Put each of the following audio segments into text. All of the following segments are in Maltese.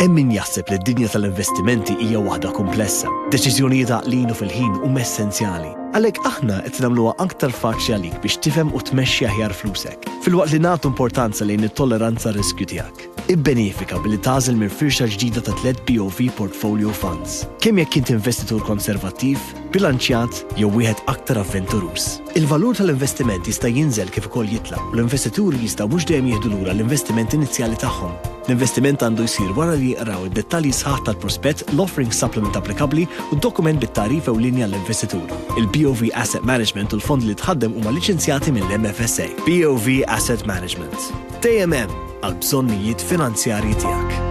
Hemm min jaħseb li d-dinja tal-investimenti hija waħda kumplessa. Deċiżjonijiet għaqlin u fil-ħin huma essenzjali. Għalhekk aħna qed nagħmluha aktar faċli għalik biex tifhem u tmexxi aħjar flusek, filwaqt li nagħtu importanza lejn it-tolleranza riskju tiegħek. Ibbenefika billi tagħżel minn firxa ġdida ta' tliet BOV Portfolio Funds, kemm jekk int investitur konservattiv, bilanċjat jew wieħed aktar avventuruż. Il-valur tal-investiment jista' jinżel kif ukoll jitla' u l-investituri jistgħu mhux dejjem jieħdu lura l-investiment inizjali tagħhom. L-investiment għandu jsir wara li jqraw id-dettalji sħaħ tal-prospett, l-offering supplement applikabbli u d-dokument bit-tagħrif ewlieni għall-investitur. Il-BOV Asset Management u l-fondi li tħaddem huma liċenzjati mill-MFSA. BOV Asset Management, dejjem hemm għall-bżonnijiet finanzjarji tiegħek.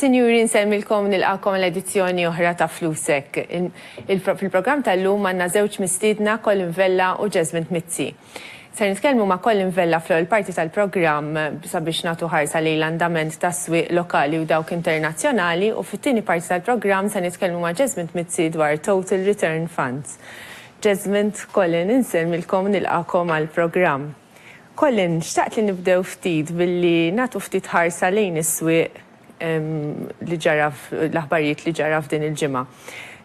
Sinjuri, nsemmilkom nilqakom l-edizzjoni oħra ta' Flusek. Fil-programm tal-lum għandna żewġ mistiedna Colin Vella u Jasmine Mizzi. Ser nitkellmu ma' Colin Vella fl-ewwel parti tal-programm sabiex nagħtu ħarsa lejn l-andament tas-swieq lokali u dawk internazzjonali u fit-tieni parti tal-programm se nitkellmu ma' Jesmond Mizzi dwar Total Return Funds. Jesmond, Colin, insellmilkom u nilqagħkom għall-programm. Colin, xtaqt li nibdew ftit billi nagħtu ftit ħarsa lejn is-swieq li ġara l-aħbarijiet li ġara f'din il-ġimgħa.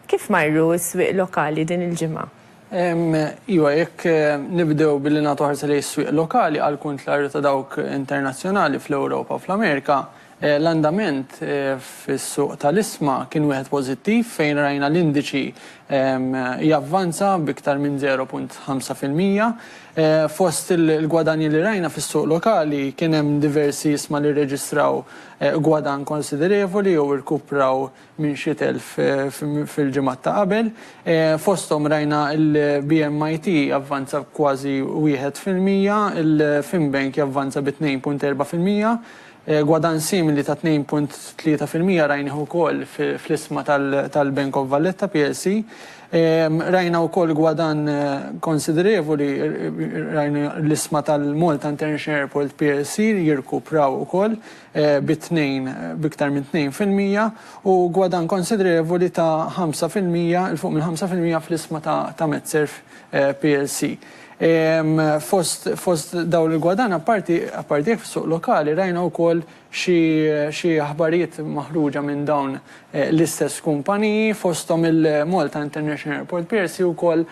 Kif marru s-swieq lokali din il-ġimgħa? Iva, jekk nibdew billi nagħtu ħarsa lejn is-swieq lokali, għal kuntlarju ta' dawk internazzjonali fl-Ewropa u fl-Amerika, l-andament fis-suq tal-isma kien wieħed pożittiv fejn rajna l-indiċi javvanza b'iktar minn 0.5 fil-mija. Fost il-gwadanji li rajna fis-suq lokali kien hemm diversi isma li rreġistraw gwadann konsiderevoli jew irkupraw minn xi telf fil-ġimgħat ta' qabel. Fosthom rajna l-BMIT javvanza b'kważi wieħed fil-mija, il-Finbank javvanza bi tnejn punt erbgħa fil-mija. Gwadann simili ta' tnejn punt tlieta fil-mija rajnih ukoll fl-isma tal-Bank of Valletta plc. Rajna wkoll gwadann konsiderevoli, rajna l-isma tal-Malta International Airport plc jirkupraw ukoll. bi tnejn, b'iktar minn tnejn fil-mija, u gwadann konsiderevoli ta' ħamsa fil-mija, 'il fuq mill-ħamsa fil-mija, fl-isma ta' Metserv plc. Fost dawn il-gwadann, apparti jekk fis-suq lokali, rajna wkoll xi aħbarijiet maħruġa minn dawn l-istess kumpaniji, fosthom il-Malta International Airport plc wkoll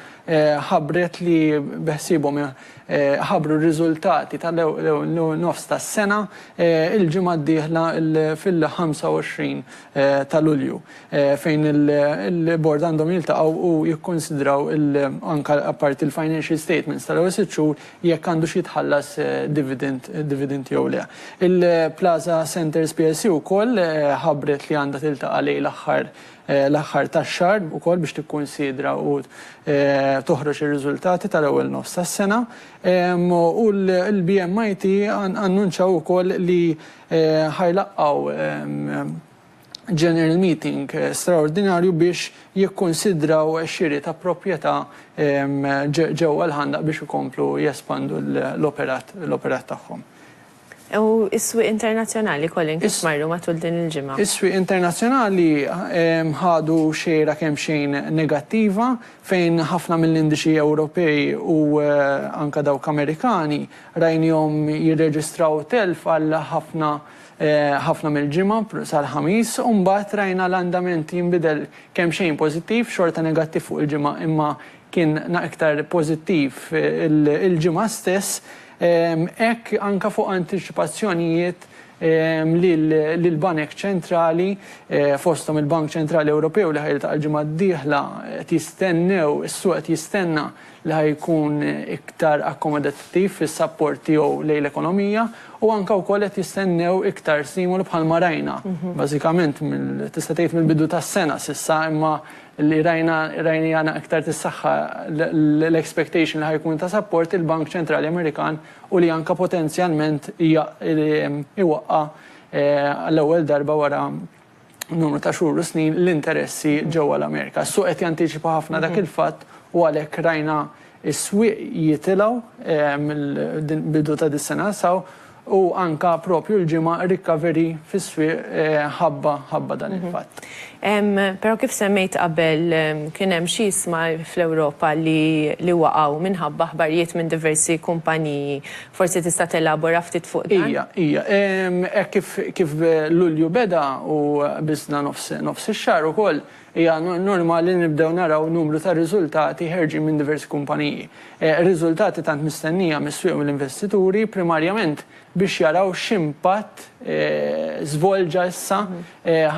ħabbret li beħsiebhom ħabbru r-riżultati tal-ewwel nofs tas-sena l-ġimgħa d-dieħla fil-25 ta' Lulju, fejn il-Bord għandhom jiltaqgħu u jikkunsidraw anke apparti l-financial statements tal-ewwel sitt xhur jekk għandux jitħallas dividend jew le. Il-Plaza Centres plc wkoll ħabbret li għandha tiltaqa' lejl aħħar l-aħħar tax-xahar ukoll biex tikkunsidra u toħroġ ir-riżultati tal-ewwel nofs tas-sena u l-BMIT annunċaw ukoll li ħa jlaqqgħu General Meeting straordinarju biex jikkunsidraw xiri ta' proprjetà ġewwa l-Ħandaq biex ikomplu jespandu l-operat tagħhom. U s-swieq internazzjonali, Colin, kif marru matul din il-ġimgħa? Is-swieq internazzjonali ħadu xejra kemxejn negattiva fejn ħafna mill-indiċi Ewropej u anke dawk Amerikani rajniehom jirreġistraw telf għal ħafna ħafna mill-ġimgħa sal-Ħamis u mbagħad rajna l-andament jinbidel kemxejn pożittiv, xorta negattiv fuq il-ġimgħa imma kien iktar pożittiv il-ġimgħa stess. Hekk anke fuq antiċipazzjonijiet li l-banek ċentrali, fosthom il-Bank Ċentrali Ewropew li ħa jiltaqa' l-ġimgħa d-dieħla, qed jistennew, is-suq qed jistenna li ħa jkun iktar akkomodattiv fis-sapport tiegħu lejn l-ekonomija u anke wkoll qed jistennew iktar stimolu bħalma rajna bażikament mill-, tista' tgħid mill-bidu tas-sena s'issa imma li rajna rajniha na iktar tissaħħa l-expectation li ħa jkun ta' sapport il-Bank Ċentrali Amerikan u li anka potenzjalment iwaqqa' għall-ewwel darba wara numru ta' xhur u snin l-interessi ġewwa l-Amerika. Is-suq qed jantiċipa ħafna dak il-fatt u għalhekk rajna Is-swieq jitilgħu mill-bidu ta' dis-sena sa hawn u anke proprju l-ġimgħa rikaveri fis-swieq ħabba dan il-fatt. Però kif semmejt qabel kien hemm xi iżma fl-Ewropa li waqgħu minħabba aħbarijiet minn diversi kumpaniji. Forsi tista' telabora ftit fuq dan? Ija, ija. Hekk kif Lulju beda u biżna nofs ix-xahar ukoll, Hija normali li nibdew naraw numru ta' riżultati ħerġin minn diversi kumpaniji. Riżultati tant mistennija mis-swieq u mill-investituri, primarjament biex jaraw x'impatt żvolġa issa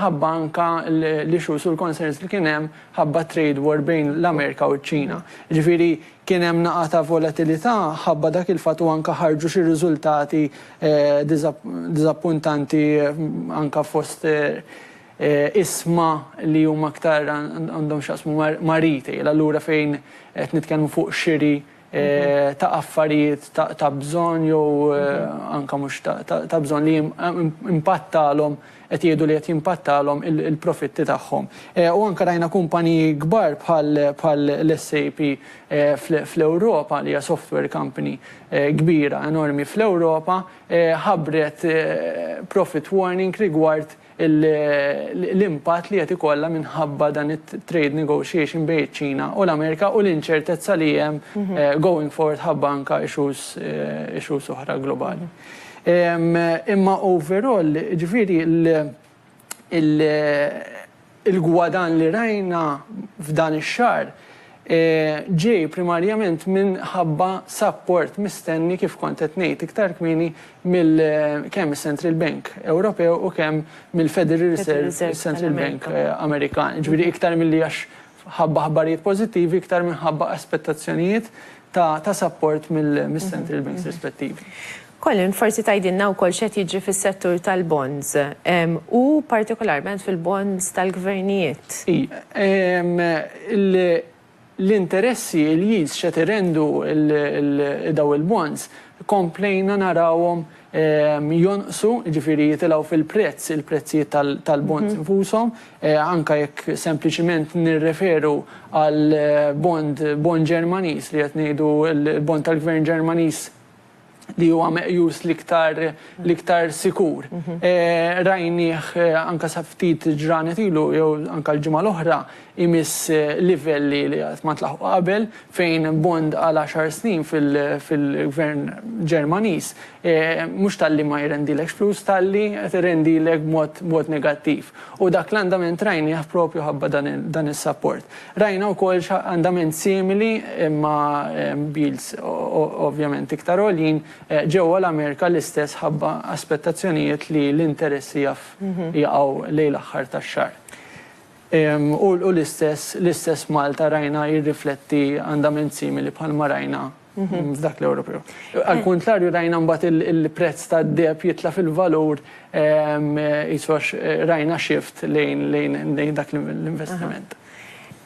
ħabba anke l-issues u l-concerns li kien hemm ħabba t-trade war bejn l-Amerika u ċ-Ċina. Jiġifieri kien hemm naqa' ta' volatilità ħabba dak il-fatt u anke ħarġu xi riżultati diżappuntanti anke fost Iesma li huma aktar għandhom x'jaqsmu ma' retail, allura fejn qed nitkellmu fuq xiri ta' affarijiet ta' bżonn jew anke mhux ta' bżonn li impattalhom, qed jgħidu li qed jimpattalhom il-profitti tagħhom. U anke rajna kumpaniji kbar bħal l-SAP fl-Ewropa li hija software company kbira, enormi fl-Ewropa, ħabbret profit warning rigward l-impatt li qed ikollha minħabba dan it-trade negotiation bejn iċ-Ċina u l-Amerika u l-inċertezza li hemm going forward ħabba anke issues issues oħra globali. Imma overall, jiġifieri l-gwadann li rajna f'dan ix-xahar, ġej primarjament minħabba sapport mistenni, kif kont qed ngħid iktar kmieni, mill kemm is-Central Bank Ewropew u kemm mill-Federal Reserve, is-Central Bank Amerikan. Jiġifieri iktar milli għax ħabba aħbarijiet pożittivi, iktar minħabba aspettazzjonijiet ta' sapport mis-Central Banks rispettivi. Colin, forsi tgħidilna wkoll x'qed jiġri fis-settur tal-bonds, u partikolarment fil-bonds tal-gvernijiet? Ii, L-interessi, il-yields x'qed irendu dawn il-bonds, komplejna narawhom jonqsu, jiġifieri jitilgħu fil-prezz, il-prezzijiet tal-bonds infushom, anke jekk sempliċement nirreferu għall-bond Ġermaniż li qed ngħidu l-bond tal-gvern Ġermaniż, li huwa meqjus l-iktar l-iktar sikur. Rajnieh anka sa ftit ġranet ilu jew anka l-ġimgħa l-oħra imiss livelli li qatt ma tlaħqu qabel fejn bond għal għaxar snin fil-gvern Ġermaniż mhux talli ma jrendilekx flus talli qed irendilek b'mod negattiv. U dak l-andament rajnieh propju ħabba dan is-sapport. Rajna wkoll x'andament simili, imma b'yields ovvjament iktar għoljin, ġewwa l-Amerika l-istess ħabba aspettazzjonijiet li l-interessi jaf jaqgħu lejn l-aħħar tax-xahar. U l-istess l-istess Malta rajna jirrifletti andament simili bħalma rajna f'dak l-Ewropew. Għall-kuntrarju rajna mbagħad il-prezz tad-deheb jitla' fil-valur qisu għax rajna shift lejn dak l-investiment.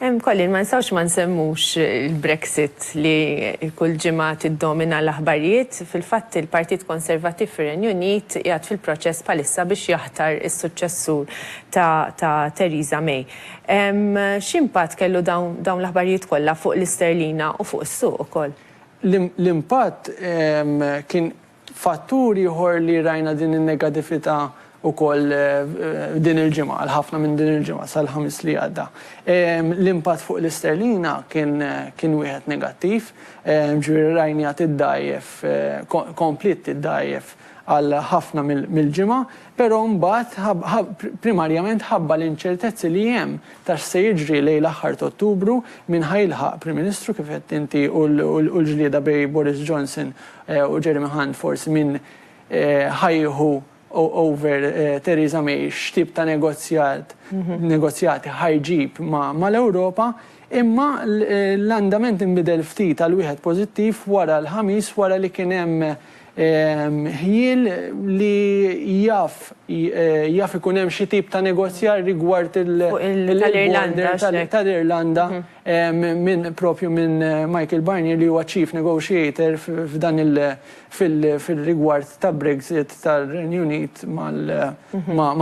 Collin, ma nistgħux ma nsemmux il-Brexit li kull ġimgħa tiddomina l-aħbarijiet. Fil-fatt il-Partit Konservattiv fir-Renju Unit qiegħed fil-proċess bħalissa biex jaħtar is-suċċessur ta' Theresa May. X'impatt kellu dawn l-aħbarijiet kollha fuq l-isterlina u fuq is-suq ukoll? L-impatt kien fattur ieħor li rajna din in-negatività wkoll din il-ġimgħa, għal ħafna minn din il-ġimgħa sal-Ħamis li għadda. L-impatt fuq l-isterlina kien wieħed negattiv, jiġifieri rajniha tiddgħajjef, kompliet tiddgħajjef għal ħafna mill-ġimgħa. Però mbagħad, primarjament ħabba l-inċertezzi li hemm ta' x'se jiġri lejn l-aħħar t'Ottubru, min ħa jilħaq Prim Ministru kif għedt inti u l-ġlieda bejn Boris Johnson u Jeremy Hunt forsi min ħa jieħu over Theresa May, x'tip ta' negozjat, negozjati ħa jġib mal-Ewropa, imma l-andament inbidel ftit għal wieħed pożittiv wara l-Ħamis wara li kien hemm Ħjiel li jaf jaf ikun hemm xi tip ta' negozjar rigward il tal-Irlanda tal-Irlanda minn propju minn Michael Barnier li huwa chief negotiator f'dan il fir-rigward ta' Brexit tar-Renju Unit mal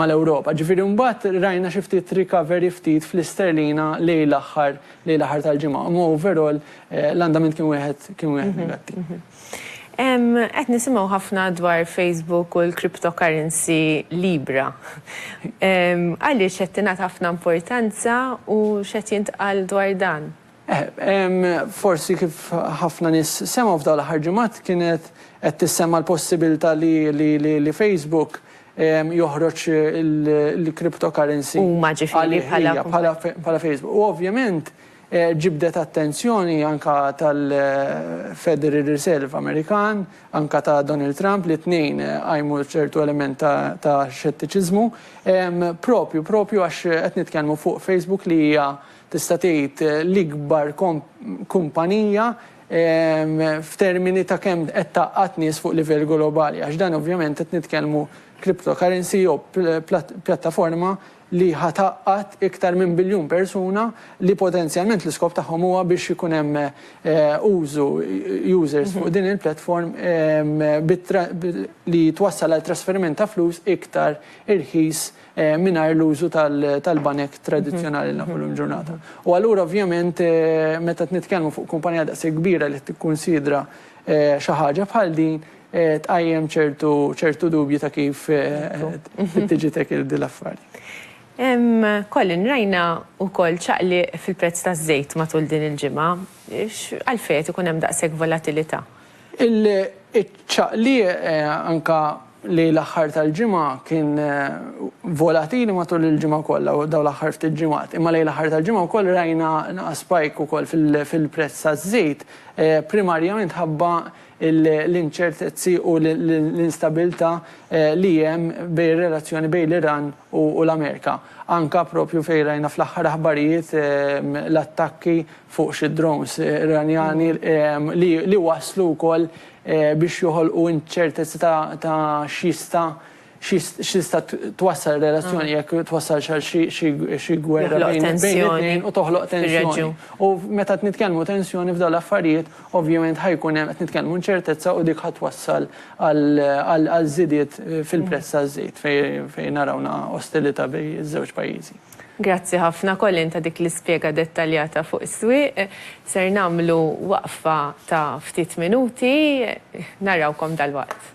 mal-Ewropa. Ġifieri mbagħad rajna xi ftit recovery ftit fl-isterlina lejn l-aħħar lejn l-aħħar tal-ġimgħa. Imma overall l-andament kien wieħed kien wieħed negattiv. Qed nisimgħu ħafna dwar Facebook u l-cryptocurrency Libra. Għaliex qed tingħata ħafna importanza u x'qed jintqal dwar dan? Forsi kif ħafna nies semgħu f'dawn l-aħħar ġimgħat kienet qed tissemma l-possibilità li Facebook joħroġ il-cryptocurrency. Huma ġifieri bħala Facebook. U ovvjament Ġibdet attenzjoni anke tal-Federal Reserve Amerikan, anke ta' Donald Trump li t-tnejn qajmu ċertu element ta' xettiċiżmu, proprju proprju għax qed nitkellmu fuq Facebook li hija tista' tgħid l-ikbar kumpanija f'termini ta' kemm qed tgħaqqad nies fuq livell globali għax dan ovvjament qed nitkellmu cryptocurrency jew pjattaforma li ħa tgħaqqad iktar minn biljun persuna li potenzjalment l-iskop tagħhom huwa biex ikun hemm użu, users, fuq din il-platform li twassal għal trasferiment ta' flus iktar irħis mingħajr l-użu tal-banek tradizzjonali li nafu llum il-ġurnata. U allura ovvjament meta qed nitkellmu fuq kumpanija daqshekk kbira li qed tikkunsidra xi ħaġa bħal din, tqajjem ċertu dubji ta' kif tiġi tackled din l-affari. Colin, rajna wkoll ċaqliq fil-prezz taż-żejt matul din il-ġimgħa. Għalfejn qed ikun hemm daqshekk volatilità? Iċ-ċaqliq anke li l-aħħar tal-ġimgħa kien volatili matul il-ġimgħa kollha u dawn l-aħħar ftit ġimgħat. Imma lejn l-aħħar tal-ġimgħa wkoll rajna spike ukoll fil-prezz taż-żejt, primarjament ħabba l-inċertezzi u l-instabilità li hemm bejn ir-relazzjoni bejn l-Iran u l-Amerika. Anke proprju fejn rajna fl-aħħar aħbarijiet l-attakki fuq xi drones Iranjani li wasslu wkoll biex joħolqu inċertezzi ta' x'jista' X'tista' twassal relazzjoni jekk twassalx għal xi gwerra bejn it-tnejn u toħloq tensjoni. U meta qed nitkellmu tensjoni f'dawn l-affarijiet, ovvjament ħa jkun hemm qed nitkellmu inċertezza u dik ħa twassal għal żidiet fil-prezz taż-żejt fejn narawna ostilità bejn iż-żewġ pajjiżi. Grazzi ħafna Colin ta' dik l-ispjega dettaljata fuq is-swieq. Ser nagħmlu waqfa ta' ftit minuti. Narawkom dalwaqt.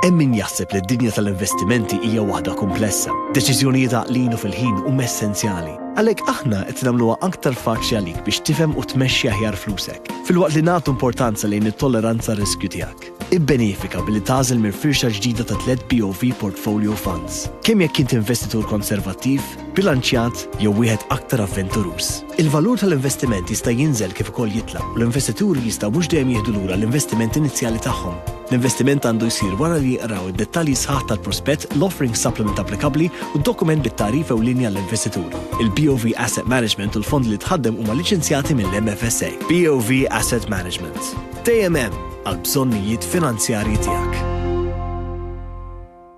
Hemm min jaħseb li d-dinja tal-investimenti hija waħda kumplessa. Deċiżjonijiet għaqlin u fil-ħin huma essenzjali. Għalhekk aħna qed nagħmluha aktar faċli għalik biex tifhem u tmexxi aħjar flusek, filwaqt li nagħtu importanza lejn it-tolleranza riskju tiegħek. Ibbenefika billi tagħżel minn firxa ġdida ta' tliet BOV Portfolio Funds. Kemm jekk int investitur konservattiv, bilanċjat jew wieħed aktar avventuruż. Il-valur tal-investiment jista' jinżel kif ukoll jitla', u l-investituri jistgħu mhux dejjem jieħdu lura l-investiment inizjali tagħhom. L-investiment għandu jsir wara li jqraw id-dettalji sħaħ tal-prospett, l-offering supplement applikabbli u d-dokument bit-tagħrif ewlieni għall-investitur. Il-BOV Asset Management u l-fondi li tħaddem huma liċenzjati mill-MFSA. BOV Asset Management, dejjem hemm għall-bżonnijiet finanzjarji tiegħek.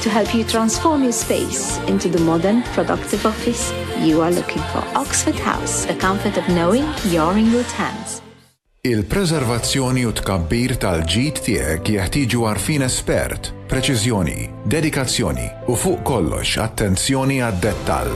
To help you transform your space into the modern, productive office you are looking for. Oxford House, the comfort of knowing you're in good hands. Il-preservazzjoni u tkabbir tal-ġid tiegħek jeħtieġu għarfien espert, preċiżjoni, dedikazzjoni u fuq kollox attenzjoni għad-dettall.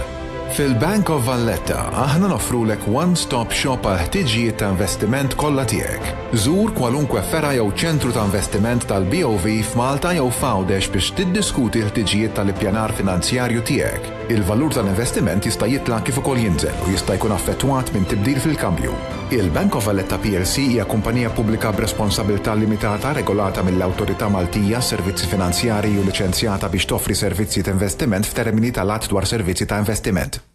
Fil-Bank of Valletta aħna nofrulek one-stop shop għal ħtiġijiet ta' investiment kollha tiegħek. Żur kwalunkwe fergħa jew ċentru ta' investiment tal-BOV f'Malta jew f'Għawdex biex tiddiskuti l-ħtiġijiet tal-ippjanar finanzjarju tiegħek. Il-valur tal-investiment jista' jitla' kif ukoll jinżel u jista' jkun affettwat minn tibdil fil-kambju. Il-Bank of Valletta plc hija kumpanija pubblika b'responsabilità limitata regolata mill-Awtorità Maltija għas-Servizzi Finanzjarji u liċenzjata biex toffri servizzi t'investiment f'termini tal-Att dwar Servizzi ta' Investiment.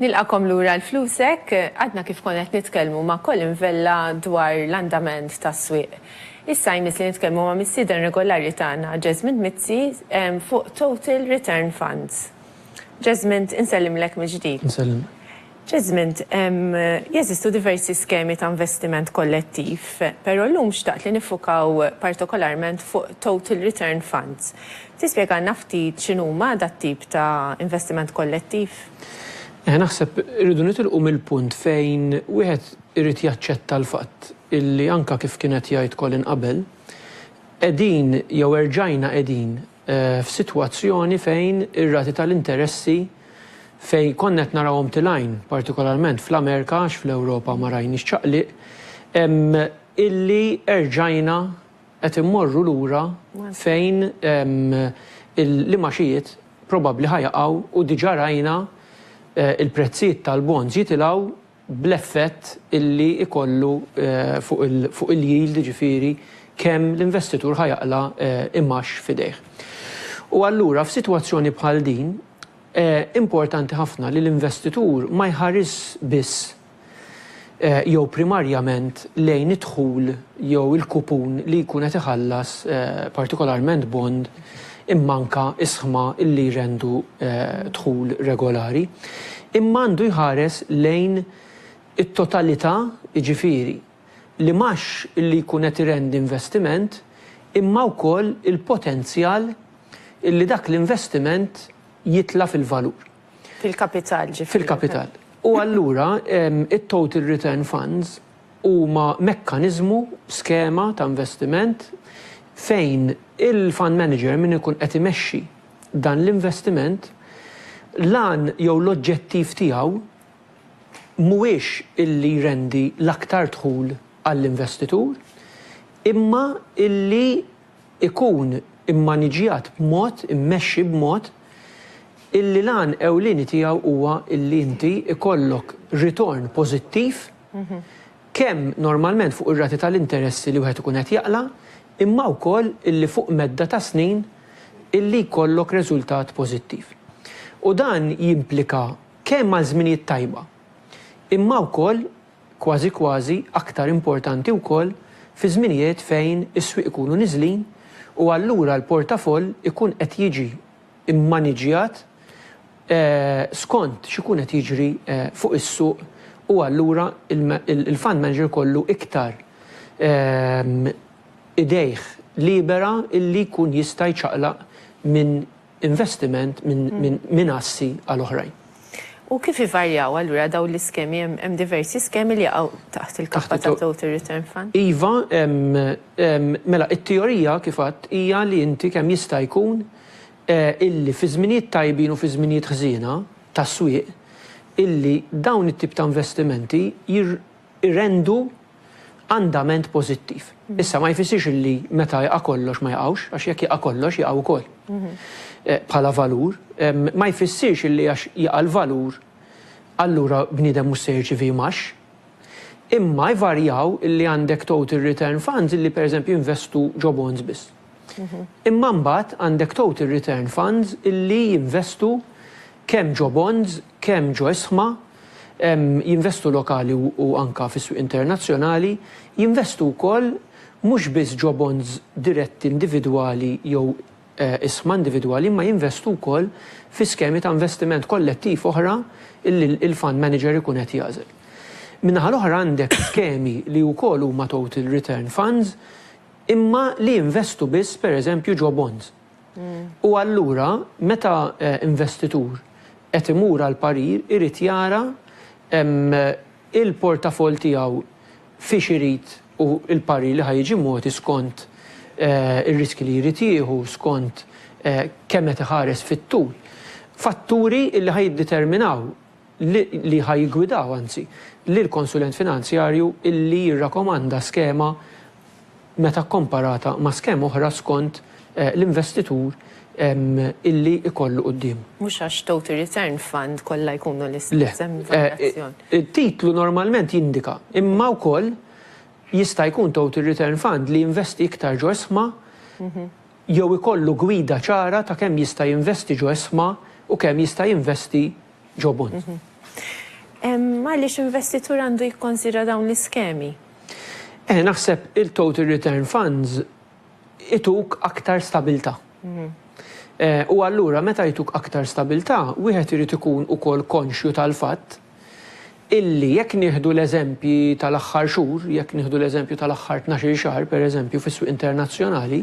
Nilqagħkom lura għal Flusek. Għadna kif konna qed nitkellmu ma' Colin Vella dwar l-andament tas-swieq. Issa jmiss li nitkellmu ma' mistieden regolari tagħna, Jesmond Mizzi, fuq Total Return Funds. Jesmond, insellimlek mill-ġdid. Insellimlek. Jesmond, jeżistu diversi skemi ta' investiment kollettiv, però llum xtaqt li niffukaw partikolarment fuq Total Return Funds. Tispjegalna ftit x'inhuma dat-tip ta' investiment kollettiv? Eħe, naħseb irridu nitilqu mill-punt fejn wieħed irid jaċċetta l-fatt illi anke kif kien qed jgħid Colin qabel, qegħdin jew erġajna qegħdin f'sitwazzjoni fejn ir-rati tal-interessi fejn konna qed narawhom tilgħin, partikolarment fl-Amerika għax fl-Ewropa ma rajniex ċaqliq, illi erġajna Qed immorru lura fejn l-imgħaxijiet probabbli ħa jaqgħu u diġà rajna l-prezzijiet tal-bonds jitilgħu bl-effett li jkollu fuq il-yield, jiġifieri kemm l-investitur ħa jaqla' imgħax f'idejh. U allura f'sitwazzjoni bħal din importanti ħafna li l-investitur ma jħarisx biss jew primarjament lejn id-dħul jew il-kupun li jkun qed iħallas, partikolarment bond, imma anke isħma li jrendu dħul regolari, imma għandu jħares lejn it-totalità, jiġifieri, li mhux li jkun qed irendi investiment imma wkoll il-potenzjal li dak l-investiment jitla' fil-valur. Fil-kapital, ġifieri. Fil-kapital. U allura it-total return funds huma mekkaniżmu, skema ta' investiment fejn il-fund manager, min ikun qed imexxi dan l-investiment, l-għan jew l-oġġettiv tiegħu mhuwiex illi jrendi l-aktar dħul għall-investitur, imma illi ikun immaniġġjat b'mod, immexxi b'mod, illi l-għan ewlieni tiegħu huwa illi inti jkollok ritorn pożittiv kemm normalment fuq ir-rati tal-interessi li wieħed ikun qed jaqla' imma wkoll illi fuq medda ta' snin illi jkollok reżultat pożittiv. U dan jimplika kemm għal żminijiet tajba imma wkoll kważi kważi aktar importanti wkoll fi żminijiet fejn is-swieq ikunu niżlin u allura l-portafoll ikun qed jiġi mmaniġġjat skont x'ikun qed jiġri fuq is-suq u allura l-fund manager ikollu iktar idejh libera li jkun jista' jċaqlaq minn investiment minn assi għal oħrajn. U kif ivarjaw allura dawn l-iskemi? Hemm diversi skemi li jaqgħu taħt il-kappa ta' Total Return Fund? Iva, mela t-teorija kif għedt hija li inti kemm jista' jkun illi fi żminijiet tajbin u fi żminijiet ħżiena tas-swieq illi dawn it-tip ta' investimenti jirrendu Andament pożittiv. Issa ma jfissirx li meta jaqa' kollox ma jaqgħux, għax jekk jaqa' kollox jaqgħu wkoll. Bħala valur, ma jfissirx li għax jaqa' l-valur allura bniedem mhux se jirċievi imgħax. Imma jvarjaw li għandek total return funds li pereżempju jinvestu ġo bonds biss. Imma mbagħad għandek total return funds li jinvestu kemm ġo bonds kemm ġo isma, jinvestu lokali u anka fis-swieq internazzjonali, jinvestu wkoll mhux biss ġo bonds diretti individwali jew isma individwali imma jinvestu wkoll fi skemi ta' investiment kollettiv oħra li l-fund manager ikun qed jagħżel. Min-naħa l-oħra għandek skemi li wkoll huma total return funds imma li jinvestu biss pereżempju ġo bonds. U allura meta investitur qed imur għal parir irid jara l-portafoll tiegħu fiex irid u l-parir li ħa jiġi mogħti skont ir-riskji li jrid jieħu, skont kemm qed iħares fit-tul. Fatturi li ħa jiddeterminaw li ħa jiggwidaw anzi, lill-konsulent finanzjarju illi jirrakkomanda skema meta kkomparata ma' skema oħra skont l-investitur illi jkollu quddiemu. Mhux għax total return fund kollha jkunu l-istess, hemm varjazzjoni. Le. It-titlu normalment jindika, imma wkoll jista' jkun total return fund li jinvesti iktar ġo isma jew ikollu gwida ċara ta' kemm jista' jinvesti ġo esma u kemm jista' jinvesti ġo bond. Għaliex investitur għandu jikkonsidra dawn l-iskemi? Eh, naħseb il-total return funds ituk aktar stabilta'. U allura meta jtuk aktar stabilta', wieħed irid ikun ukoll konxju tal-fatt illi jekk nieħdu l-eżempji tal-aħħar xhur, jekk nieħdu l-eżempju tal-aħħar tnax-il xahar pereżempju fis-swieq internazzjonali,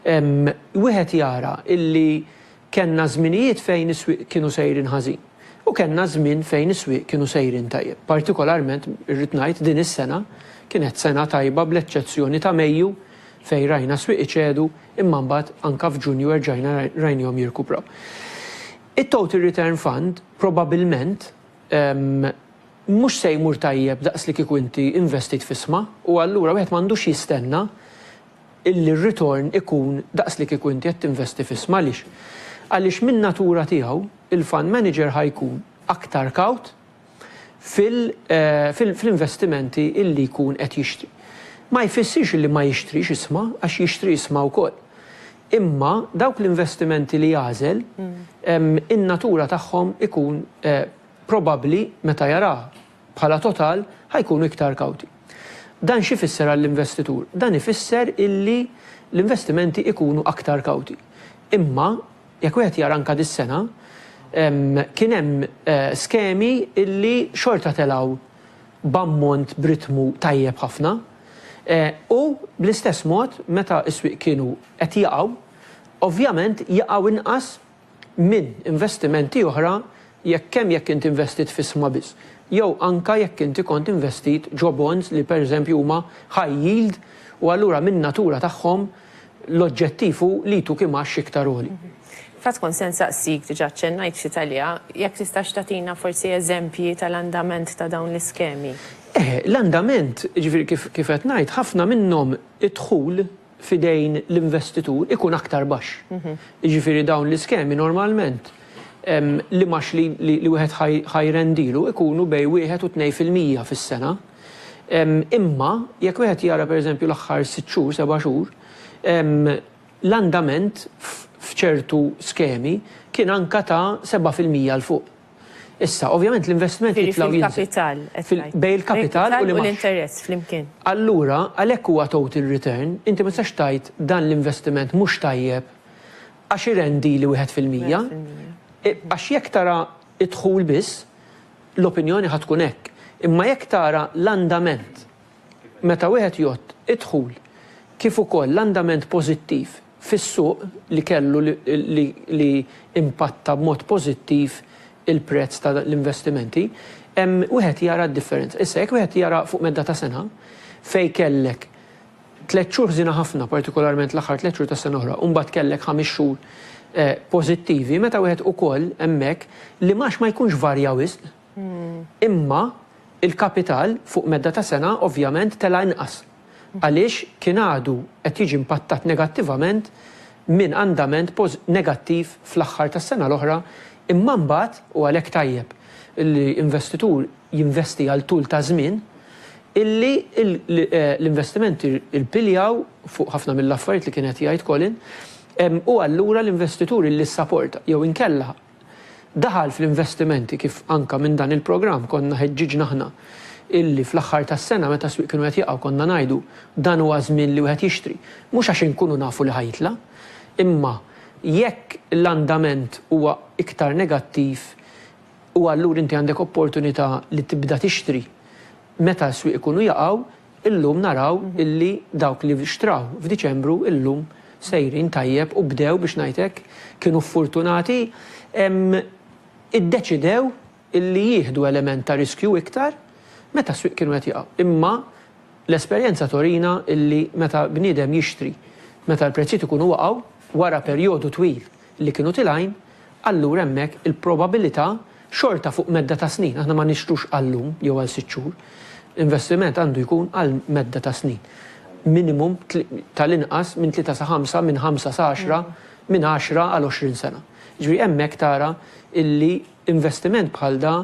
wieħed jara illi kellna żminijiet fejn is-swieq kienu sejrin ħażin u kellna żmien fejn is-swieq kienu sejrin tajjeb. Partikolarment irrid ngħid din is-sena kienet sena tajba bl-eċċezzjoni ta' Mejju fejn rajna s-swieq iċedu imma mbagħad anke f'Ġunju erġajna rajnihom jirkupraw. It-Total Return Fund Probabbilment mhux se jmur tajjeb daqs li kieku inti investit f'isma u allura wieħed m'għandux jistenna illi r-ritorn ikun daqs li kieku inti qed tinvesti f'isma għaliex? Għaliex min-natura tiegħu il-fund manager ħa jkun aktar kawt fl-investimenti illi jkun qed jixtri. Ma jfissirx illi ma jixtrix isma għax jixtri isma wkoll. Imma dawk l-investimenti li jagħżel, in-natura tagħhom ikun probabbli meta jaraha bħala total ħa jkunu iktar kawti. Dan x'ifisser għall-investitur? Dan ifisser illi l-investimenti ikunu aktar kawti. Imma jekk wieħed jara anke dis-sena, kien hemm skemi illi xorta telgħu b'ammont b'ritmu tajjeb ħafna. U, bl-istess mod, meta s-swieq kienu qed jaqgħu, ovvjament jaqgħu inqas minn investimenti oħra jekk kemm jekk int investit f'isma biss, jew anke jekk inti kont investit ġo bonds li, pereżempju, huma high yield u allura min-natura tagħhom L-oġġettiv hu li jtuk imgħax iktar għoli. F'għadd kont se nsaqsik, diġà aċċennajt ftit għaliha, jekk tistax tagħtina forsi eżempji tal-andament ta' dawn l-iskemi. Eh, l-andament, jiġifieri kif kif qed ngħid, ħafna minnhom id-dħul f'idejn l-investitur ikun aktar baxx. Jiġifieri dawn l-iskemi normalment l-imgħax li li wieħed ħa jirrendilu jkunu bejn wieħed u tnejn fil-mija fis-sena. Imma jekk wieħed jara pereżempju l-aħħar sitt xhur, seba' xhur, l-andament f'ċertu skemi kien anke ta' seba' fil-mija 'l fuq. Issa, ovvjament l-investiment jitla' u jinżel. Jiġifieri fil-kapital, qed tgħid. Bejn il-kapital u l-imgħax. L-interess flimkien. Allura, għalhekk huwa total return, inti ma tistax tgħid dan l-investiment mhux tajjeb għax irendi li wieħed fil-mija. Għax jekk tara id-dħul biss, l-opinjoni ħa tkun hekk. Imma jekk tara l-andament meta wieħed jgħodd id-dħul kif ukoll l-andament pożittiv fis-suq li kellu li impatta b'mod pożittiv il-prezz ta' l-investimenti, hemm wieħed jara d-differenza. Issa jekk wieħed jara fuq medda ta' sena fejn kellek Tliet xhur ħżiena ħafna, partikolarment l-aħħar tliet xhur tas-sena l-oħra, u mbagħad kellek ħames xhur pożittivi, meta wieħed ukoll hemmhekk l-imgħax ma jkunx varja wisq, imma l-kapital fuq medda ta' sena ovvjament tela' inqas għaliex kien għadu qed jiġi impattat negattivament minn andament negattiv fl-aħħar tas-sena l-oħra, imma mbagħad, u għalhekk tajjeb li investitur jinvesti għal tul ta' żmien, illi l-investimenti rpiljaw fuq ħafna mill-affarijiet li kien qed jgħid Colin, u allura l-investitur illi ssaporta, jew inkella daħal fl-investimenti kif anke minn dan il-programm konna ħeġġiġna aħna illi fl-aħħar tas-sena meta s-swieq kienu qed jaqgħu konna ngħidu dan huwa ż-żmien li wieħed jixtri, mhux għax inkunu nafu li ħa jitla', imma jekk l-andament huwa iktar negattiv, u allura inti għandek opportunità li tibda tixtri meta s-swieq ikunu jaqgħu, illum naraw illi dawk li xtraw f'Diċembru illum sejrin tajjeb u bdew biex ngħid hekk, kienu ffortunati, iddeċidew illi jieħdu element ta' riskju iktar meta s-swieq kienu qed jaqgħu. Imma l-esperjenza turina illi meta bniedem jixtri meta l-prezzijiet ikunu waqgħu wara perjodu twil li kienu tilgħin, allura hemmhekk il-probabilità xorta fuq medda ta' snin, aħna ma nixtrux għal lum jew għal sitt xhur, investiment għandu jkun għal medda ta' snin, minimum tal-inqas minn tlieta sa ħamsa, minn ħamsa sa għaxra, minn għaxra għal għoxrin sena. Jiġifieri hemmhekk tara illi investiment bħal da,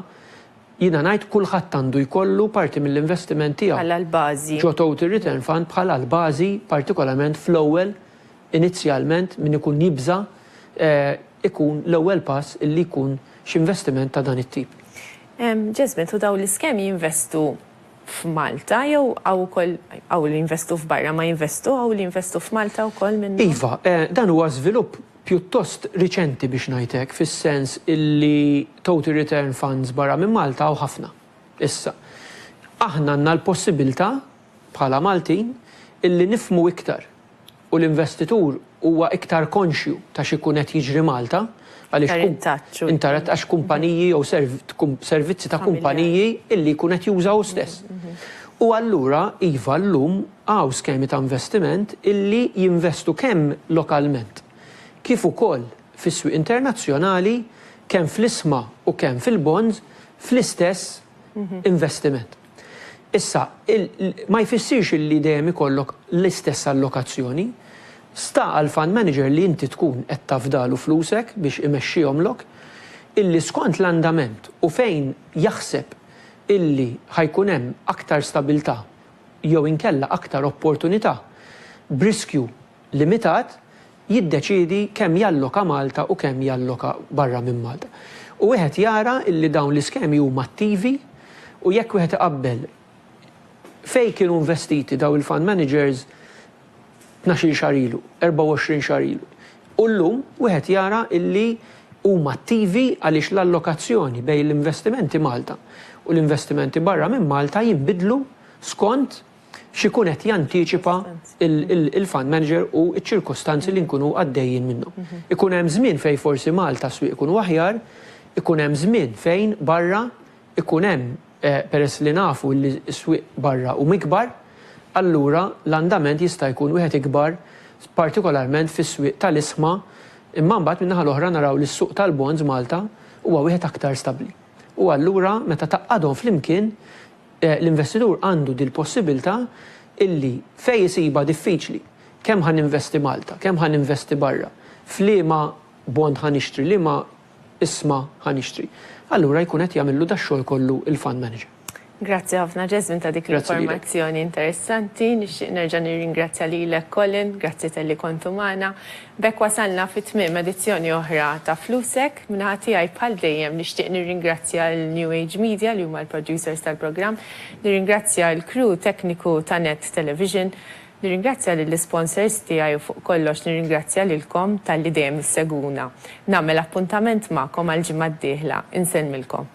jiena ngħid kulħadd għandu jkollu parti mill-investiment tiegħu. Bħala l-bażi. Ġo total return fund bħala l-bażi partikolarment fl-ewwel Inizjalment min ikun jibża' ikun l-ewwel pass li jkun x'investiment ta' dan it-tip. Jasmine, u dawn l-iskemi jinvestu f'Malta jew hawn ukoll hawn li jinvestu f'barra ma jinvestu hawn li jinvestu f'Malta wkoll minnhom? Iva, dan huwa żvilupp pjuttost riċenti biex ngħid hekk fis-sens illi total return funds barra minn Malta hawn ħafna issa. Aħna għandna l-possibilta' bħala Maltin illi nifhmu iktar. u l-investitur huwa iktar konxju ta' x'ikun qed jiġri Malta għaliex intarat għax kumpaniji jew servizzi ta' kumpaniji illi jkun qed juża hu stess. U allura iva llum hawn skemi ta' investiment illi jinvestu kemm lokalment kif ukoll fis-swieq internazzjonali kemm fl-isma u kemm fil-bonds fl-istess investiment. Issa, ma jfissirx li dejjem ikollok l-istess allokazzjoni. Sta għall-fund manager li inti tkun qed tafdalu flusek biex imexxihomlok, illi skont l-andament u fejn jaħseb illi ħa jkun hemm aktar stabilità jew inkella aktar opportunità b'riskju limitat jiddeċiedi kemm jalloka Malta u kemm jalloka barra minn Malta. U wieħed jara li dawn l-iskemi huma attivi u jekk wieħed iqabbel fejn kienu investiti dawn il-fund managers tnax-il xahar ilu, erbgħa u għoxrin xahar ilu u llum, wieħed jara li huma attivi għaliex l-allokazzjoni bejn l-investimenti Malta u l-investimenti barra minn Malta jinbidlu skont x'ikun qed jantiċipa l-fund manager u ċ-ċirkostanzi li nkunu għaddejjin minnhom. Ikun hemm żmien fejn forsi Malta s-swieq ikunu aħjar, ikun hemm żmien fejn barra ikun hemm peress li nafu li s-swieq barra huma ikbar, allura l-andament jista' jkun wieħed ikbar partikolarment fis-swieq tal-isma, imma mbagħad min-naħa l-oħra naraw li s-suq tal-bonds Malta huwa wieħed aktar stabbli. U allura meta tgħaqqadhom flimkien L-investitur għandu dil-possibiltà illi fejn isibha diffiċli, kemm ħa ninvesti Malta, kemm ħa ninvesti barra, f'liema bond ħa nixtri, liema isma ħa nixtri, allura jkun qed jagħmillu dax-xogħol kollu l-fund manager. Grazzi ħafna Jasmine ta' dik l-informazzjoni interessanti. Nixtieq nerġa' nirringrazzja lilek Colin, grazzi talli kontu magħna. B'hekk wasalna fi tmiem edizzjoni oħra ta' Flusek. Min-naħa tiegħi bħal dejjem nixtieq nirringrazzja lil New Age Media li huma l-producers tal-programm, nirringrazzja l-crew tekniku ta' Net Television, nirringrazzja lill-isponsors tiegħi u fuq kollox nirringrazzja lilkom talli dejjem issegwuna. Nagħmel appuntament magħkom għall-ġimgħa d-dieħla. Insellmilkom.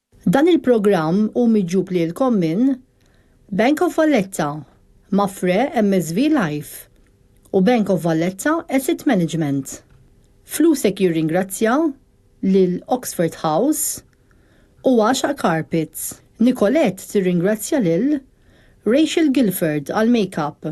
Dan il-programm hu miġjub lilkom minn, Bank of Valletta, Mapfre MSV Life u Bank of Valletta Asset Management. Flusek jirringrazzja lil Oxford House u Għaxaq Carpets. Nicolette tirringrazzja lil, Rachel Gilford għall-makeup,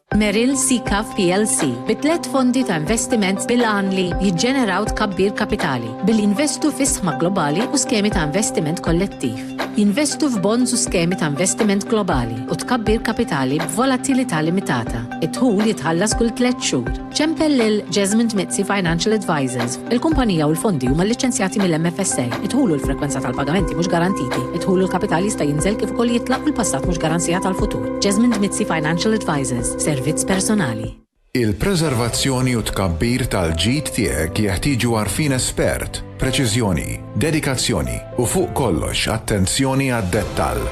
Merrill Seacav plc bi tliet fondi ta' investiment bil-għan li jiġġeneraw tkabbir kapitali billi jinvestu fi sħma globali u skemi ta' investiment kollettiv, jinvestu f'bonds u skemi ta' investiment globali u tkabbir kapitali b'volatilità limitata. Id-dħul jitħallas kull tliet xhur. Ċempel lil Jesmond Mizzi Financial Advisors. Il-kumpanija u l-fondi huma lliċenzjati mill-MFSA. Id-dħul u l-frekwenza tal-pagamenti mhux garantiti. Id-dħul u l-kapital jista' jinżel kif ukoll jitlaq u l-passat mhux garanzija tal-futur. Jasmine Mizzi Financial Advisors, servizz personali. Il-preservazzjoni u t-tkabbir tal-ġid tiegħek jeħtieġu għarfien espert, preċiżjoni, dedikazzjoni u fuq kollox attenzjoni għad-dettall.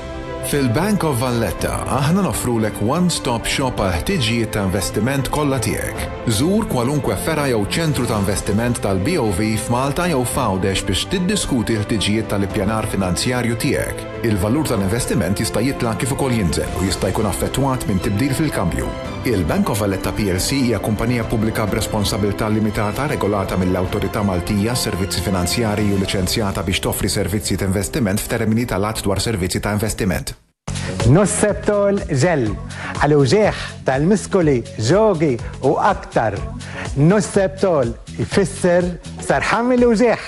Fil-Bank of Valletta aħna noffrulek one-stop shop għall-ħtiġijiet ta' investiment kollha tiegħek. Żur kwalunkwe fergħa jew ċentru ta' investiment tal-BOV f'Malta jew f'Għawdex biex tiddiskuti l-ħtiġijiet tal-ippjanar finanzjarju tiegħek. Il-valur tal-investiment jista' jitla' kif ukoll jinżel u jista' jkun affettwat minn tibdil fil-kambju. Il-Bank of Valletta plc hija kumpanija pubblika b'responsabilità limitata regolata mill-Awtorità Maltija għas-Servizzi Finanzjarji u liċenzjata biex toffri servizzi ta' investiment f'termini tal-Att dwar Servizzi ta' Investiment. Nosceptol Gel, għal uġigħ tal-miskuli, ġogi u aktar. Nosceptol jfisser sarħan mill-uġigħ.